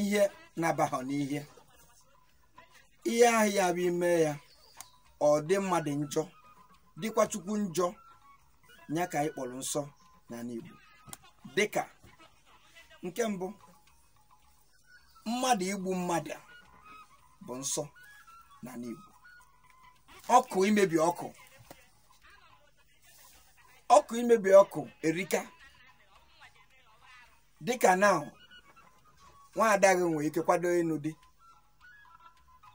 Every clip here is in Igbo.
ihe na-abaghọ n'ihe ihe ahụ ya bụ i mee ya ọ dị mmadụ njọ dịkwa chukwu njọ ya ka anyị kpọlụ nsọ n'anị Igbo dịka nke mbụ mmadụ igbu mmadụ bụ nsọ n'anị Igbo ọkụ imebi ọkụ ọkụ imebi ọkụ erika dịka na nwaada gị nwere ike kwado ịnụ di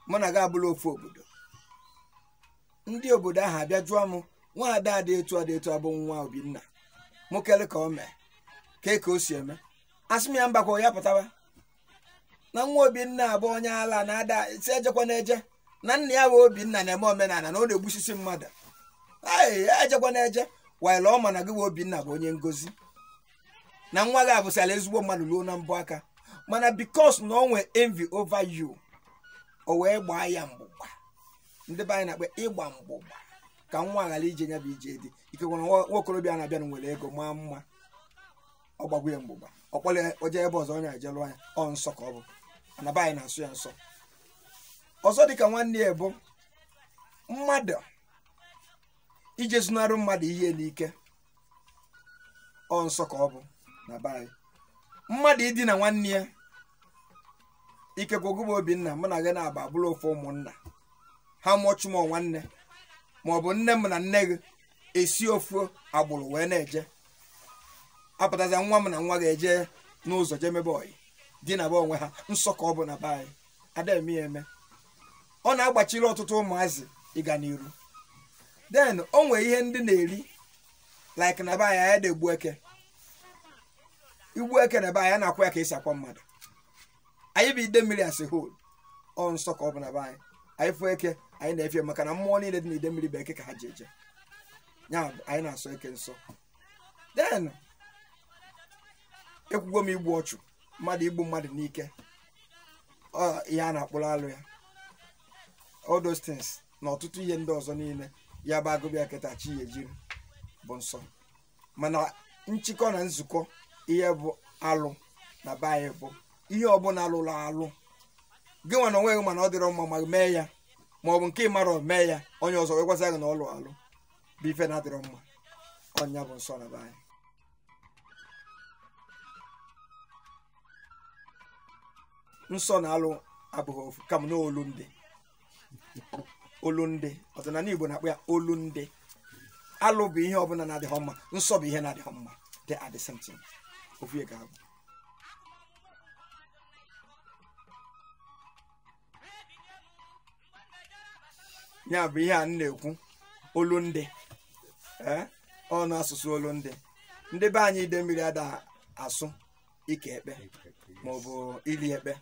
mụ na gị abụlụ ofu obodo ndị obodo ahụ abịa jụọ m nwaada dị etu a dị etu a bụ nwa obinna mụ kele ka o mee kee ka o si eme asị m ya mbakwa ya pụtaba na nwa obinna bụ onye ala na-ada si ejekwana eje na nna ya bụ obinna na-eme omenala na ọ na-egbusisi mmadụ ee ejekwana eje while ọ ma na gị bụ obinna bụ onye ngozi na nwa gị abụsala ezigbo mmadụ ruo na mbọ aka mana because na o nwee envy over you o wee gbaa ya mgbụgba ndị be anyị na-akpọ ịgba mgbụgba ka nwa ghara ije ya bụ ije di ikekwe na nwa okorobịa na-abịanụ nwere ego maa mma ọ gbagbu ya mgbụgba ọ kpọrọ ya o jee ebe ọzọ onye ajelụ anya ọ nsọ ka ọ bụ na be anyị na-asọ ya nsọ ọzọ dịka nwanne ya bụ mmadụ ije zunarụ mmadụ ihe n'ike ọ nsọ ka ọ bụ na be anyị mmadụ idina nwanne ya ikekwe gị bụ obinna mụ na gị naabọ bụrụ ofu ụmụnna ha mụọchụ m nwanne ma ọ bụ nne m na nne gị esi ofu agbụrụ wee na-eje apụtazi nwa m na nwa gị eje n'ụzọ je mebe oyi dinaba onwe ha nsọ ka ọ bụ na be anyị ada eme ya eme ọ na-agbachiri ọtụtụ ụmụazị ịga n'iru then o nwee ihe ndị na-eri like na be anyị anyị ada egbu eke i gbuo eke na be anyị a na-akwa ya ka e si akwa mmadụ anyị bụ Idemmiri as a whole ọ nsọ ka ọ bụ na be anyị anyị fụ eke anyị na-efe ya maka na mmụọ niile dị na Idemmiri bụ eke ka ha ji eje ya bụ anyị na-asọ eke nsọ then ekwugo m igbu ọchụ mmadụ igbu mmadụ n'ike ọ ihe a na-akpụrụ alụ ya all those things na ọtụtụ ihe ndị ọzọ niile ya bụ a gụba ya kịta chi ejiri bụ nsọ mana nchịkọ na nzukọ ihe bụ alụ na be anyị bụ ihe ọbụna lụlụ alụ gị nwa na onwe gị ma na ọ dịrọ mma ma mee ya ma ọ bụ nke ị marọ mee ya onye ọzọ wee gwasị gị na ọ alụ alụ bụ ife na-adịrọ mma ọ ya bụ nsọ na be anyị nsọ na alụ abụghị ofu kama na olu ndị olu ndị ọdịnana igbo na-akpọ ya olu ndị alụ bụ ihe ọbụla na-adịghị mma nsọ bụ ihe na-adịghị mma they are the same thing ofu ihe ka ọ bụ ya bụ ihe a na-ekwu olu ndị ee ọnụ asụsụ olu ndị ndị be anyị idemili ada asụ ike ekpe ma ọ bụ iri ekpe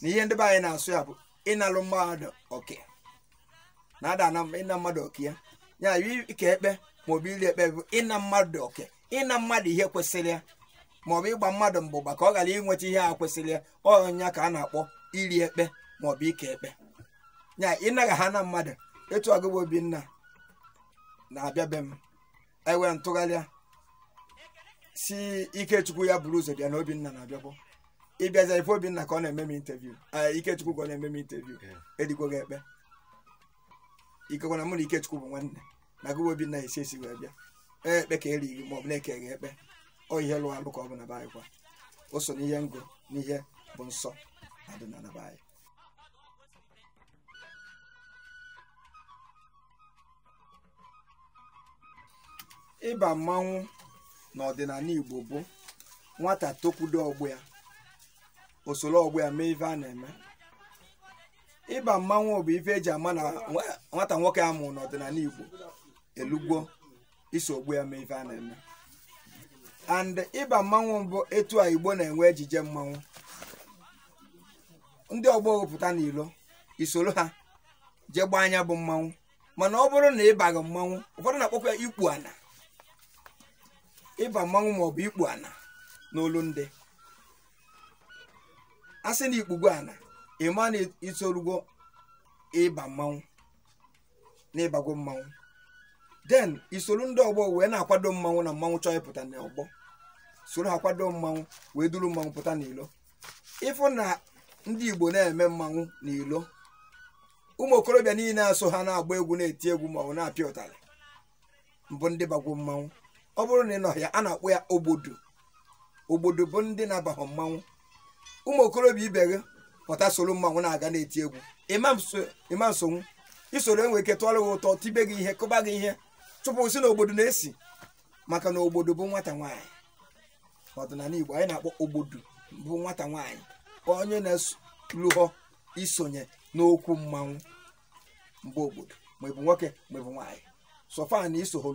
na ihe ndị be anyị na-asụ ya bụ ịnalụ mmadụ oke na ada ịna mmadụ oke ya ya ike ekpe ma ọ bụ iri ekpe bụ ịna mmadụ oke ịna mmadụ ihe kwesịrị ya maọbụ ịgba mmadụ mgbụgba ka ọ ghara inweta ihe a kwesịrị ya ọ ya ka a na-akpọ iri ekpe maọbụ ike ekpe ya ịnaghị ha na mmadụ etu a ugbu a obinna na-abịa be m e wee tụgharịa sị ikechukwu ya buru ụzọ bịa na obinna na-abịabụ ịbịaza ife obinna ka ọ na-eme m interview ee ikechukwu ka ọ na-eme m interview erigwo gị ekpe ikekwe na mụ na ikechukwu bụ nwanne na gịwa obinna esi esi wee bịa ee ekpe ka e rii gị ma ọ bụ na e kee gị ekpe ọ ihe alụ alụ ka ọ bụ na be anyị kwa o so n'ihe m gụ n'ihe bụ nsọ n'ọdịnana be anyị ịba mmanwụ n'ọdịnana igbo bụ nwata tokwudo ọgbọ ya o soro ọgbọ ya mee ife a na-eme ịba mmanwụ bụ ife e ji ama na nwa- nwata nwoke a mụrụ n'ọdịnana igbo elugwo iso ọgbọ ya mee ife a na-eme and ịba mmanwụ bụ etu a igbo na-enwe ejije mmanwụ ndị ọgbọ wepụta n'ilo i soro ha jee gbaa nya bụ mmanwụ mana ọ bụrụ na ị baghị mmanwụ ụfọdụ na-akpọkwa ya ikpu ana ịba mmanwụ maọbụ ikpu ana n'olu ndị a sị na i kpugo ana ị ma na i torugo ịba mmanwụ na ị bago mmanwụ then i soro ndị ọgbọ wee na-akwado mmanwụ na mmanwụ chọọ ịpụta na ọgbọ i soro ha kwado mmanwụ wee duru mmanwụ pụta n'ilo ị fụ na ndị igbo na-eme mmanwụ n'ilo ụmụ okorobịa niile na-eso ha na-agba egwu na-eti egwu ma ọ na-apịa ụtarị bụ ndị bagwo mmanwụ ọ bụrụ na ị nọhọ ya a na-akpọ ya ogbodo ogbodo bụ ndị na-abaghọ mmanwụ ụmụ okorobịa ibe gị pụta soro mmanwụ na-aga na-eti egwu ị ma-esonwu i soro e nwee ike tọrọ gị atọ tibe gị ihe kụba gị ihe chụpụ sị na ogbodo na-esi maka na ogbodo bụ nwata nwaanyị n'ọdịnana igbo onye a na-akpọ ogbodo bụ nwata nwaanyị onye na-elughọ isonye n'okwu mmanwụ mgbe obodo ma ịbụ nwoke ma ịbụ nwaanyị so far na isoho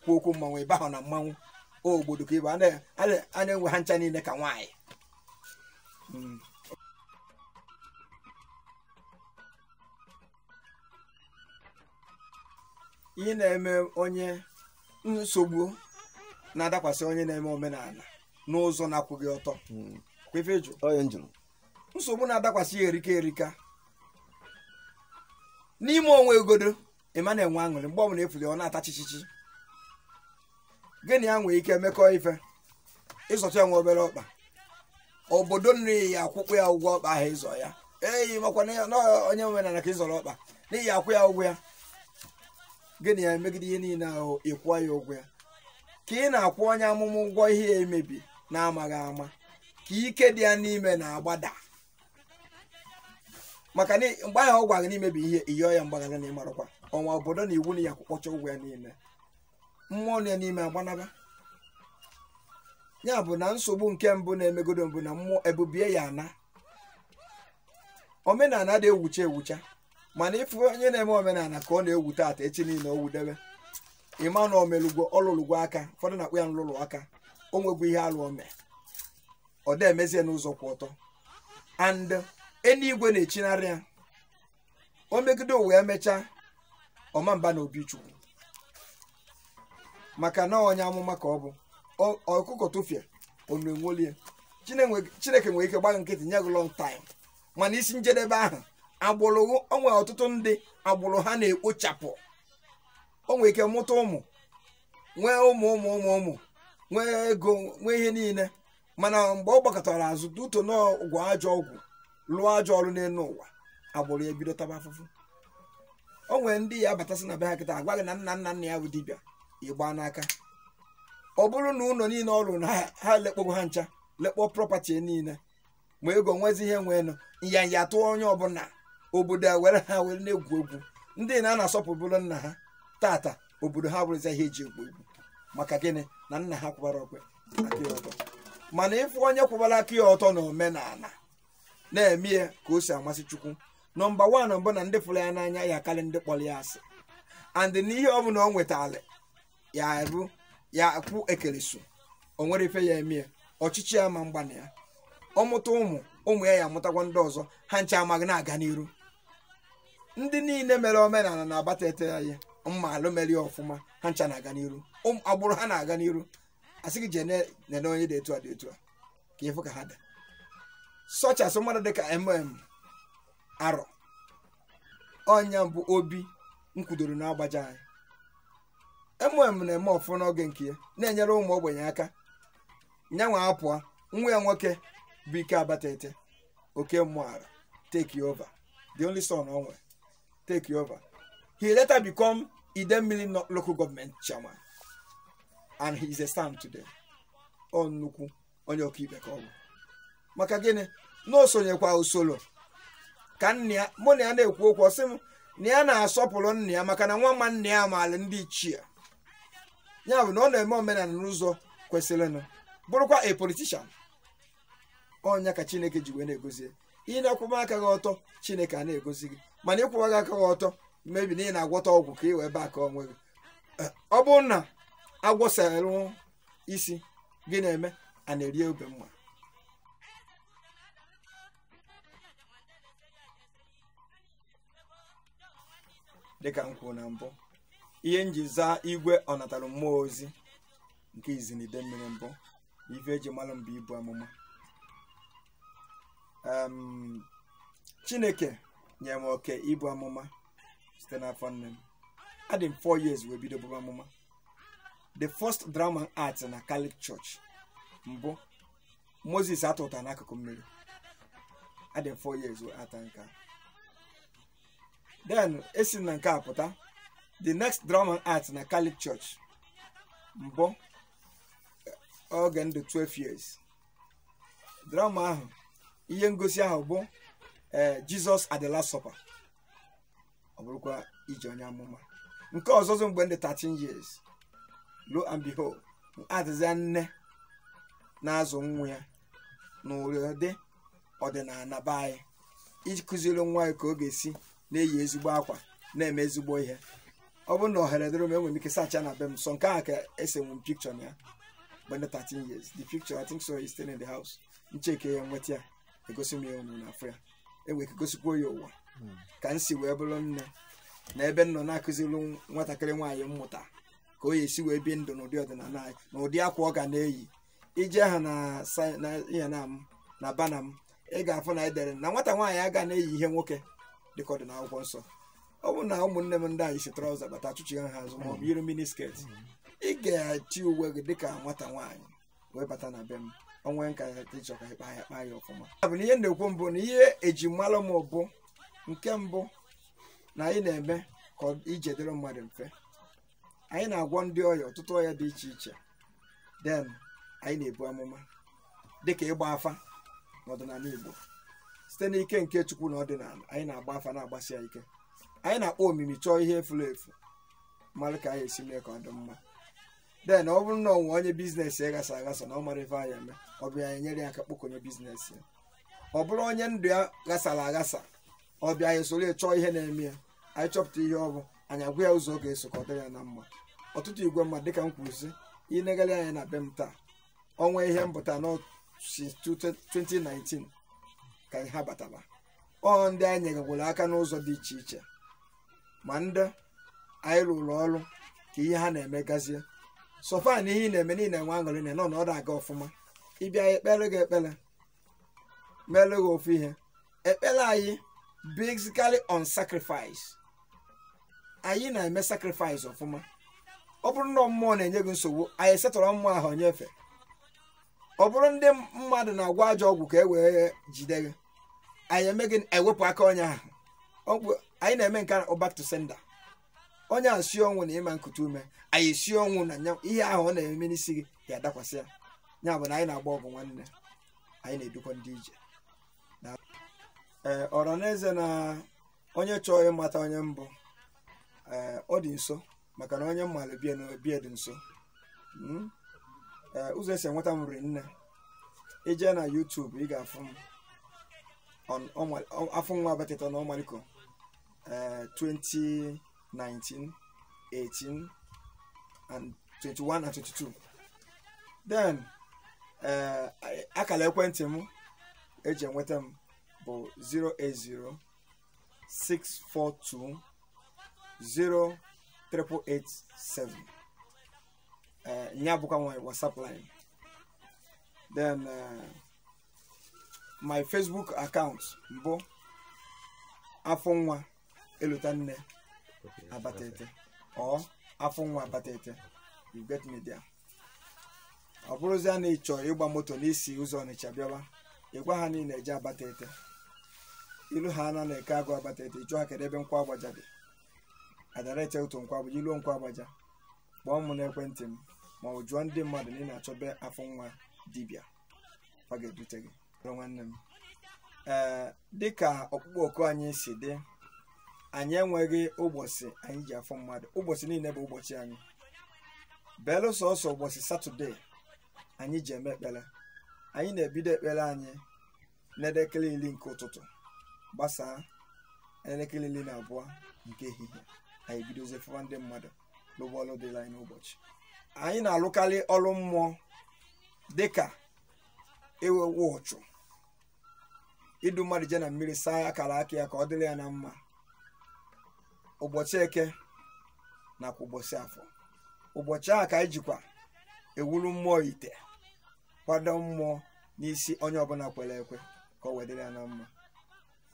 kwuo okwu mmanwụ ịbahọ na mmanwụ obodo ka ịbụ a na-ewe ha ncha niile ka nwaanyị hmm. ihe na-eme onye nsogbu na-adakwasị onye na-eme omenala n'ụzọ na-akwụghị ọtọ hmm. nsogbu na-adakwasị ya erika erika n'ime onwe egodo ịma na-enwe aṅụrị mgbe ọbụla efuli ọ na-ata chichichi gị na ya nwee ike mekọọ ife ịzụta ya nwa obere ọkpa obodo nye ya kwụkwa ya ụgwọ ọkpa ahụ ịzụ ya e ị makwa na ya- na onye omenala ka ịzụrụ ọkpa na ị ya-akwụ ya ụgwọ ya gị na ya emegide ihe niile ahụ ịkwụọ ya ụgwọ ya ka ị na-akwụ onye amụma ụgwọ ihe ya emebi na-amaghị ama ka ike dị ya n'ime na-agbada maka na mgbe ahụ ọ gwara gị na imebie ihe ị yọọ ya mgbaghara na ịmarakwa ọnwa obodo na iwu na ị ya-akwụkpọcha ụgwọ ya niile mmụọ nọ ya n'ime agbanaba ya bụ na nsogbu nke mbụ na-emegodo bụ na mmụọ ebubie ya na omenala adị ewucha ewucha mana ịfụ onye na-eme omenala ka ọ na-ewu taata echi niile owudebe ịma na omelugwo ọlụlụgwo aka ụfọdụ na-akpọ ya nlụlụ aka o nwegwo ihe alụ ome ọ da-emezi n'ụzọ kwụ ọtọ and eluigwe na-echinarị ya o megide ụwa ya mechaa ọ ma-aba na obi chukwu maka na onye amụma ka ọ bụ Ọ- ọkụkọ tụfịa onu enwolie Chinenwe- chineke nwere ike gba gị nkịtị nye gị long time mana isi njedebe ahụ agbụrụ o nwe ọtụtụ ndị agbụrụ ha na-ekpochapụ o nwere ike mụta ụmụ nwee ụmụ ụmụ ụmụ ụmụ nwee ego nwee ihe niile mana mgbe ọ gbakụtara azụ due to na ọ gwọ ajọ ọgwụ lụọ ajọ ọrụ n'elu ụwa agbụrụ ya ebido taba afụfụ o nwere ndị ị ya-abatasị na be ha kịta agwa gị na nna nna nna ya bụ dibịa ịgba n'aka ọ bụrụ na ụlọ niile ọ rụrụ na ha lekpọgo ha ncha lekpọ property niile ma ego nwezi ihe nweenụ nyanya tụọ onye ọbụla obodo a were ha were na-egwu egwu ndị na na-asọpụbụrụ nna ha tata obodo ha bụrụzi ihe eji egwu egwu maka gịnị na nna ha akwụbarọkwa aka ya ọtọ mana ịfụ onye kwụbara aka ya ọtọ na omenala na-eme ya ka o si amasị chukwu number one bụ na ndị fụrụ ya n'anya ya-akarị ndị kpọrọ ya asị and n'ihe ọ bụla o nwetara ya arụ ya kwụ ekeleso o nwere ife ya emie ọchịchị ya ma mgbana ya ọ mụta ụmụ ụmụ ya ya amụtakwa ndị ọzọ ha ncha ma na-aga n'iru ndị niile mere omenala n'abatete ya ihe maalụ mere ya ọfụma ha ncha na-aga n'iru Ụmụ- agbụrụ ha na-aga n'iru a sị gị jee ne- nene onye dị etu a dị etu a ka ịfụ ka ha dị such as mmadụ dịka mụọ arọ ọ nya bụ obi m kwudoro n'agbaja anyị mm na-eme ọfụ n'oge nke ya na-enyere ụmụ ogbenye aka nyanwa apụọ nwa ya nwoke bụ ike abatete okey mụọ arọ take over the only son o wee take over he later become idemmili local government chairman and he is a SAN today ọ nnukwu onye ọkaikpe ka ọ bụ maka gịnị na o sonyekwa usoro ka nna ya mụ na ya na-ekwu okwu ọ sị m na ya na-asọpụrụ nna ya maka na nwa nwa nna ya maara ndị ichie ya bụ na ọ na-eme omenala n'ụzọ kwesịrịnụ bụrụkwa a politician ọ nya ka chineke ji wee na-egozi ya. ị na-akwụba aka gị ọtọ chineke a na-egozi gị mana ị kwụwaghị aka gị ọtọ maybe na ị na-agwọta ọgwụ ka ị wee baa aka onwe gị Eh, ọ bụrụ na a gwọsara isi gị na-eme a na-eri ube mma dịka m kwuru na mbụ ihe m ji zaa igwe ọnatara mmụọ ozi nke izizi n'idemmiri bụ na ife e ji mara m bụ ibu amụma Em, chineke nyere m oke ibu amụma site n'afọ nne m adị m 4 years wee bido buba amụma the first drama m act na Catholic Church bụ Moses a tụta n'akụkụ mmiri adị m four years wee act nke a. then esi m na nke a pụta the next drama m act na Catholic Church bụ oge m dị 12 years drama ahụ ihe ngosi ahụ bụ eh, Jesus at the Last Supper ọ bụrụkwa iji onye amụma nke ọzọzị mgbe m dị 13 years lo and behold adịzịa nne na-azụ nwa ya n'ụdị ọdịnala be anyị iji kụziri nwa ya ka ọ ga-esi na-eyi ezigbo akwa na-eme ezigbo ihe ọ bụrụ na ohere dịrị m enwere m ike search na be m sọ nke a ka e senwu m picture na ya mgbe m dị 13 years the picture I think so is still in the house m check ya m weta ya egosi m ya unu na-afụ ya enwe ike gosikwa ya ụwa ka m si wee bụrụ nne na ebe m nọ na-akụziri nw- nwatakịrị nwaanyị mmụta ka o ya esi wee bie ndụ n'ụdị ọdịnala anyị na ụdị akwa ọ ga na-eyi ije ha na sa- na ihe na m na banner m ị ga-afụ na edere na nwata nwaanyị aga na-eyi ihe nwoke dịka ọ dị n'akwụkwọ nsọ ọ bụrụ na ụmụnne m ndị nwaanyị yi trouser bata achụchigha ha azụ maọbụ yiri mini skirt ị ga-eyi uwe gị dịka nwata nwaanyị wee bata na be m o nwee nke ị chọ ka ịkpa ya kpaa ya ọfụma ya bụ na ihe na-ekwu bụ na ihe eji malụ m bụ nke mbụ na anyị na-eme ka ọ- ije dịrị mmadụ mfe anyị na-agwọ ndị ọya ọtụtụ ọya dị iche iche then anyị na-ebu amụma dịka ịgba afa n'ọdịnala Igbo site n'ike nke Chukwu na ọdịnala anyị na-agba afa na-agbasi ya ike anyị na-akpọ omimi chọọ ihe furu efu malụ ka anyị esi mee ka ọ dị mma then ọ bụrụ na o nwe onye business ya ghasa aghasa na ọ marọ ife a ya-eme ọ bịa anyị enyere ya aka kpokọnye business ya ọ bụrụ onye ndụ ya ghasara aghasa ọ bịa anyị soro ya chọọ ihe na-eme ya anyị chọpụta ihe ọ bụ anyị agwa ya ụzọ ọ ga-eso ka ọ dịrị ya na mma ọtụtụ igwe mmadụ dịka m kwuru sị ị negharị anya na be m taa o nwe ihe mbụta nọ since 2019 ka ha batara ọ ndị anyị nyegakwara aka n'ụzọ dị iche iche ma ndị anyị rụrụ ọrụ ka ihe ha na-eme gazie so far na ihe ị na-eme niile nwe aṅụrị na nọ na ọ da-aga ọfụma ị bịa anyị ekpere gị ekpere mere gị ofu ihe ekpere anyị basically on sacrifice anyị na-eme sacrifice ọfụma ọ bụrụ na mmụọ na-enye gị nsogbu anyị e-settle mmụọ ahụ nyefe ọ bụrụ ndị mmadụ na-agwọ ajọ ọgwụ ka e wee jide gị anyị eme gị ewepụ aka onye ahụ ọgwụ anyị na-eme nke a back to sender onye ahụ si ọnwụ na ị ma-ekuta ume anyị si ọnwụ na nya ihe ahụ ọ na-eme n'isi gị ya adakwasị ya ya bụ na anyị na-agba ọgụ nwanne anyị na-edukwa ndị ije ee ọranaeze na onye chọọ ịmata onye m bụ ee ọ dị nso maka na onye malụ bie na obie dị nso Mm. Ee, ụzọ esi enweta m ri nne ije na YouTube ị ga-afụ m on Ọma- Ọ- Afụnwa Abatete na Ọmaliko ee 2019 18 and 21 and 22 then ee akara ekwentị m eji enweta m bụ 080 642 0887 ee ya bụkwa my whatsapp line then uh, my facebook account m bụ Afụnwa Elotanna Abatete or Afụnwa Abatete you get me there ọ bụrụzia na ị chọọ ịgba moto n'isi ụzọ Ọnịcha bịawa ịgwa ha niile eje abata ete ilu ha ana na-eke agụ abata ete ịjụ ha kedu ebe Nkwọ Agbaja dị adara ete ụtụ Nkwọ Agbaja i luo Nkwọ Agbaja kpọọ m n'ekwentị m ma ọ jụọ ndị mmadụ na ị na-achọ be afọ nwa dibịa ọ ga-ebute gị bụrụ nwanne m ee dịka ọkpụkpọ oku anyị si dị anyị enweghị ụbọchị anyị ji afụ mmadụ ụbọchị niile bụ ụbọchị anyị belụ sọsọ ụbọchị satọde anyị ji eme ekpere anyị na-ebido ekpere anyị n'elekere iri nke ụtụtụ gbasaa elekere iri na abụọ nke ehihie anyị bidozie fụwa ndị mmadụ lụwa ọlụ dịlị anyị n'ụbọchị anyị na-alụkarị ọlụ mmụọ dịka iwe uchu idu mmadụ jee na mmiri saa akara aka ya ka ọ dịrị ya na mma ụbọchị eke nakwa ụbọchị afọ ụbọchị ahụ ka anyị jikwa ewuru mmụọ ite kwado mmụọ n'isi onye ọbụla kwere ekwe ka o wee dịrị ya na mma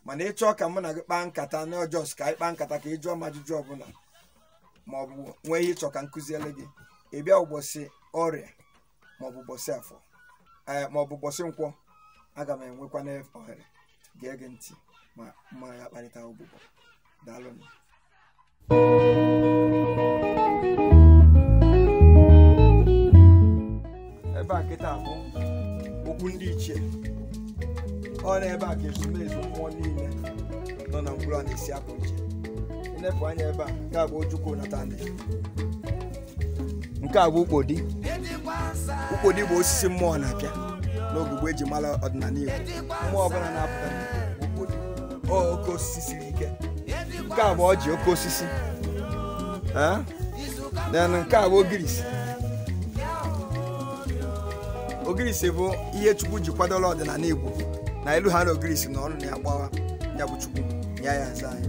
mana ị chọọ ka mụ na gị kpaa nkata na ọ just ka anyị kpaa nkata ka ị jụọ m ajụjụ ọbụla ma ọ bụ nwee ihe ị chọ ka m kụziele gị ị bịa ụbọchị orie ma ọ bụ ụbọchị afọ ee ma ọ bụ ụbọchị nkwọ aga m enwekwanụ ohere gee gị ntị ma mụ na gị kparịta ụbụbọ daalụ ebe a kịta bụ okwu ndị ichie ọ na ebe a ka ezumezu mmụọ niile nọ na mkpụrụ a na-esi apụ iche i nepụ anya ebe a ga-abụ ojukwu nata ndị nke a bụ ukpodi ukpodi bụ osisi mmụọ na-apịa n'ogugbo eji mara ọdịnala Igbo mmụọ ọbụla na-apụta ukpodi oke osisi siri ike nke a bụ ọjị oke osisi then nke a bụ ogirisi ogirisi bụ ihe Chukwu ji kwadola ọdịnala Igbo na i lu ha na ogirisi na ọnụ na ya gbawa ya kpọọ Chukwu ya ya aza anyị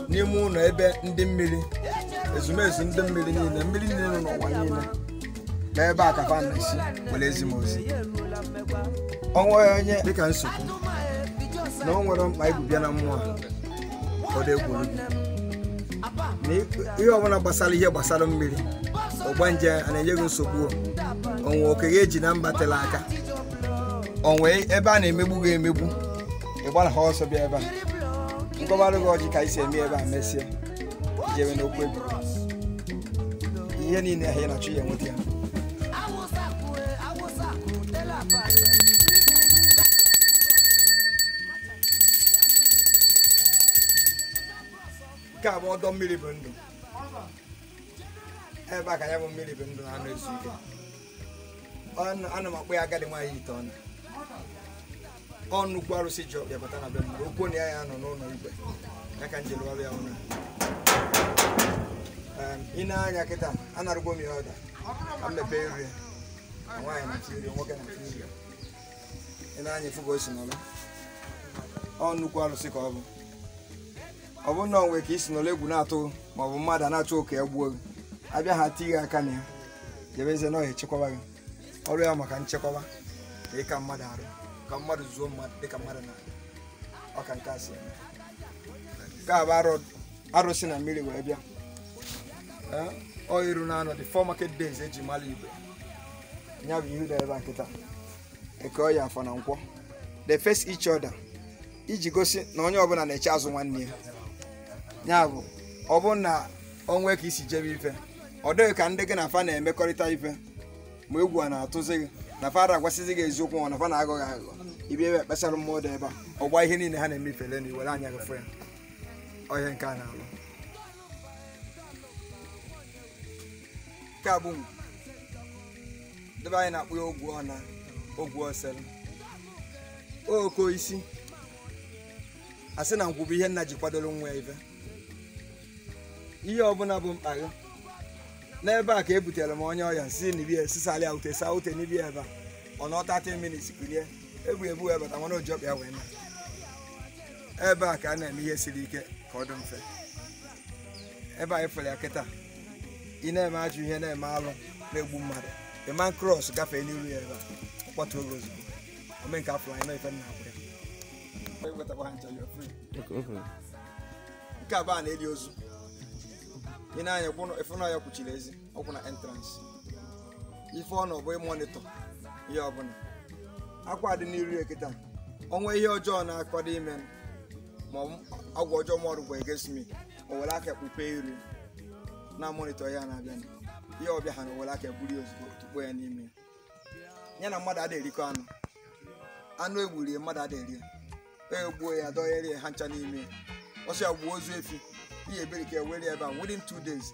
n'ime ụlọ ebe ndị mmiri ezumezu ndị mmiri niile mmiri niile nọ n'ụwa niile na ebe a ka fa na-esi wee ezi m ozi o nwee onye dịka nsogbu na o nwere mkpa i bu bịa na mmụọ a ọ dị egwuru gị na ihe ọbụla gbasara ihe gbasara mmiri ọgbanje a na-enye gị nsogbu o nwee oke gị eji na mba tela aka o nwee ebe a na-emegbu gị emegbu ị gbara ha ọsọ bịa ebe a m kọwara gị ọjị ka anyị si eme ebe a mesịa jewe n'okwu ebe ihe niile ahụ ị na-achọ ya enweta ya nke a bụ ọdọ mmiri bụ ndụ ebe a ka ya bụ mmiri bụ ndụ na-anọ ezu ike ọnụ a na m akpọ ya agadi nwaanyị ite ọnụ ọ nnukwu arụsị ji ọkpa ya bata na be mmadụ o kwu na ya ya-anọ n'ụlọ igwe ya ka m ji lụọrụ ya ụlọ i nee anya kịta anarụgwo m ya ọda ka m mepee nri na nwaanyị na chi nri nwoke na chi nri i nee anya ị fụ ka o si nọrọ ọ nnukwu arụsị ka ọ bụ ọ bụrụ na o nwee ka i si nọrọ egwu na-atụ ma ọ bụ mmadụ a na-achọ ka ya gbuo gị a bịa ha ti gị aka na ya jebezie na ọ echekwaba gị ọrụ ya maka nchekwaba na ịka mmadụ arụ ka mmadụ zuo mmadụ dịka mmadụ na ọ ka nke a si eme nke a bụ arụ- arụsị na mmiri wee bịa Ee, ọ iru naanọ the four market days e ji mara Igbo ya bụ ihu dara ebe a kịta Eke Oye Afọ na Nkwọ they face each other iji gosi na onye ọbụla na-eche azụ nwanne ya ya bụ ọ bụrụ na o nwee ka i si jebe ife ọ dị gị ka ndị gị na fa na-emekọrịta ife ma egwu a na-atụzi gị na fa ada agwasịzi gị eziokwu ọ na fa na-aghọ gị aghụghọ ị bịa ebe a kpesara mmụọ dị ebe a ọ gbaa ihe niile ha na-eme ifele na i were anya gị fụ ya ọ ihe nke a na-alụ nke a bụ ngwu ndị be anyị na-akpọ ya ogwu ọna ogwu osere oko isi a sị na ngwu bụ ihe nna ji kwadoro nwa ya ife ihe ọbụla bụ mkpa gị n'ebe a ka e butere m onye ọya si nibie sisali aute sa ute nibie ebe a ọ nọ 30 minutes kulie e bu ya ebu wee bata mana o ji ọkpa ya wee naa ebe a ka a na-eme ihe siri ike ka ọ dị mfe ebe anyị fere ya kịta ị na-eme ajọ ihe na-eme alụ na-egbu mmadụ ị ma cross gafee n'iru ya ebe a kpọtuo gị ozugbo ome nke afọ anyị na-efe nna akwụ ya nke abụọ a na-eli ozu i nee anya ị fụ na ya kwụchiri ezi ọ kwụ na entrance ife ọ na ọbụ ịmonitor ihe ọbụla akwa dị n'iru ya kịta o nwee ihe ọjọọ na-akwado ime ma agwa ọjọọ ma ọrụ bụ against me o were aka kpupe iru na-amonitor ya na-abịa ihe ọ bịa ha na o were aka buru ya ozugbo tụpụ ya n'ime ya na mmadụ ada erikọ anụ anụ e gburu ya mmadụ ada eri ya e gbuo ya dọgherie ha ncha n'ime ọsọ ya gbuo ozu efi ihe ebere ka ewere ebe a within two days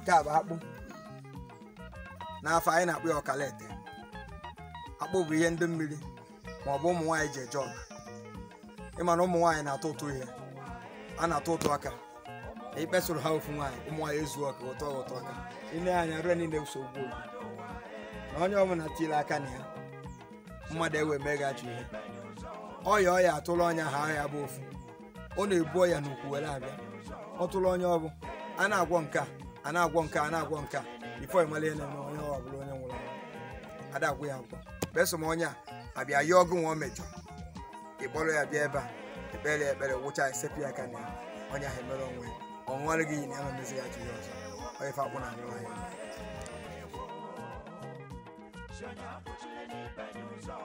nke a bụ akpụ n'afọ anyị na-akpọ ya ọkalete akpụ bụ ihe ndị mmiri ma ọ bụ ụmụ nwaanyị ji eje ọgụ ịma na ụmụ nwaanyị na-atụ ụtụ ihe a na-atụ ụtụ aka ikpesoro ha ofu nwaanyị ụmụ nwaanyị ezukọ tụọ ụtụ aka ile anya rue niile ụsọ ugbo na onye ọbụla tiri aka na ya mmadụ ewee meghachi ihe ọya ọya atụrụ onye ahụ ọya bụ ofu ọ na-ebu ọya n'ukwu were abịa ọ tụrụ onye ọbụ a na-agwọ nke a a na-agwọ nke a na-agwọ nke a before ịmala ihe na-eme onye ọ bụla onye nwụrụ anwụ ada agwọ ya agwọ besom onye a abịa yọọ ọgụ nwa o mejọ ịkpọrọ ya bịa ebe a ekpere ya ekpere wụcha esepụ ya aka na ya onye ahụ emere onwe ya ọ ṅụọrọ gị iyi na ya ma mezi ya ji ya ọzọ onye fa akwụ na anụ ahịa Shania, put your name in your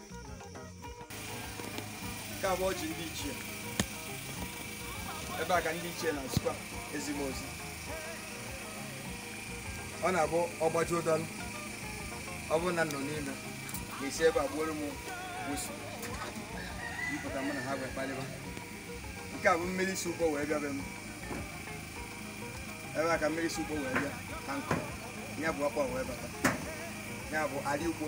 nke a bụ ọjị ndị ichie ebe a ka ndị ichie na-esikwa ezi m ozi ọ na-abụ ọgbaji ụdọlụ ọ bụrụ na m nọ n'ime ga-esi ebe a gbuoro m whistle m pụta mụ na ha wee kpalịba nke a bụ mmiri si ụgbọ wee bịa be m ebe a ka mmiri si ụgbọ wee bịa ka nkụ ya bụ ọkpọ wee bata ya bụ ali ugbo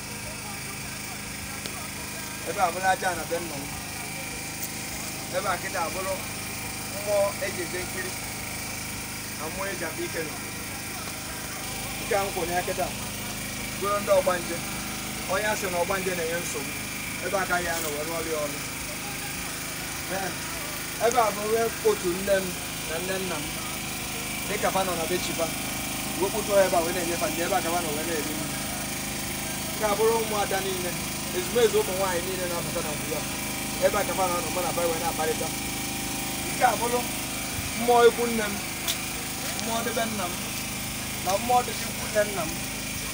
ebe a bụrụ ajana be nna m ebe a kịta abụrụ mmụọ eji eje nkiri na mmụọ eji abụ ike nọ nke a nkwụ ya kịta bụrụ ndị ọgbanje onye a sị na ọgbanje na-enye nsogbu ebe a ka a ya-anọ wee rụọrọ ya ọrụ ebe a bụ onwe otu nne m na nne nna m dịka fa nọ na be chi fa wee kpọtụ ebe a wee na-enye fa nri ebe a ka fa nọ wee na-eri nri nke a bụrụ ụmụada niile ezumezu ụmụ nwaanyị niile na-apụta na mgbe a ebe a ka fa na-anọ mụ na fa wee na-akparịta nke a bụrụ mmụọ ikwu nne m mmụọ dị be nna m na mmụọ dị be ikwu nne nna m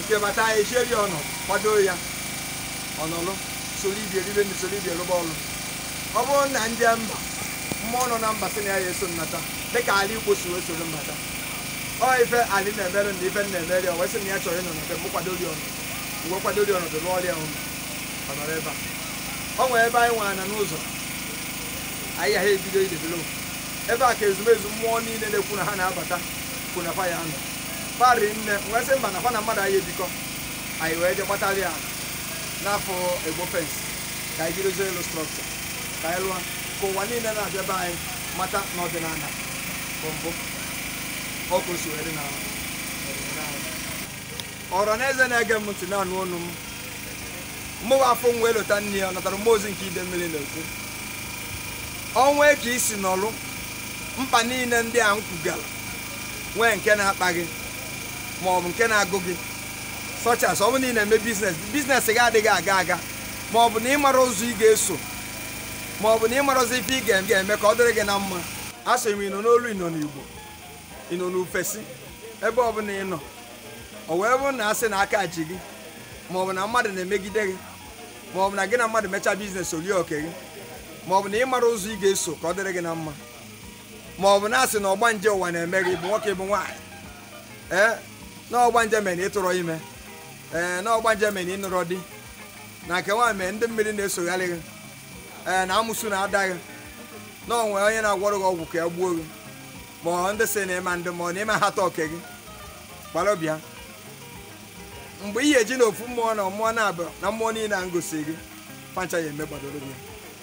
nke bata ya echeri ọnụ kwado ya ọ nọlụ soro ibe ya eribe na soro ibe ya rụba ọrụ ọ bụrụ na ndị mba mmụọ nọ na mba sị na ya ya-eso m nata dịka ala igbo si wee soro m bata ọ ife ali na-emere na ife na-emere ya wee sị na ya chọrọ ịnọ n'ebe m kwadoro ya ọnụ wee kwadoro ya ọnọdụ rụọrọ ya ọnụ ọ nọrọ ebe a ọ nwere ebe anyị nwere na n'ụzọ anyị ya ha ebido idebelo ebe a ka ezumezu mmụọ niile na-ekwu na ha na-abata kwuna fa ya-anọ kpari nne wee sị mba na fa na mmadụ ayị ebikọ anyị wee je gbatara ya n'afọ egbo fence ka anyị jidozie elu structure ka anyị lụọ ka ụwa niile na-abịa be anyị mata na ọdịnala bụ mbụ ọkụ si wee dị na ọdịnala anyị. ọra na eze na-ege m ntị na-anụ ọnụ m mụwa afụ nwa elota nna ya ọ natara mmụọ ozi nke ide mmiri na-ekwu o nwee ka i si nọlụ mkpa niile ndị a m kwugara nwee nke na-akpa gị ma ọ bụ nke na-agụ gị such as ọ bụ na ị na-eme business business gị adịghị aga aga ma ọ bụ na ịmara ụzọ ị ga-eso ma ọ bụ na ịmara ụzọ ife ị ga- ga-eme ka ọ dịrị gị na mma a sị m ịnọ n'olu ịnọ n'igbo ịnọ n'ufesi ebe ọ bụla ị nọ ọ wee bụrụ na a sị na aka ji gị ma ọ bụ na mmadụ na-emegide gị ma ọ bụ na gị na mmadụ mechaa business o lie oke gị ma ọ bụ na ịmara ụzọ ị ga-eso ka ọ dịrị gị na mma ma ọ bụ na a sị na ọgbanje ụwa na-eme gị ị bụ nwoke ị bụ nwaanyị ee na ọgbanje mere na ịtụrọ ime ee na ọgbanje mere na ịnụrọ di na nke nwaanyị mere ndị mmiri na-esogharị gị ee na amụsụ na-ata gị na o nwe onye na-agwọrọ gị ọgwụ ka ya gbuo gị ma ọ ndị sị na ịma ndị ma ọ na ịma hata oke gị gbara bịa mgbe ihe eji na ofu mmụọ na mmụọ naabọ na mmụọ niile a ngosi gị pancha ya emegbadoro gị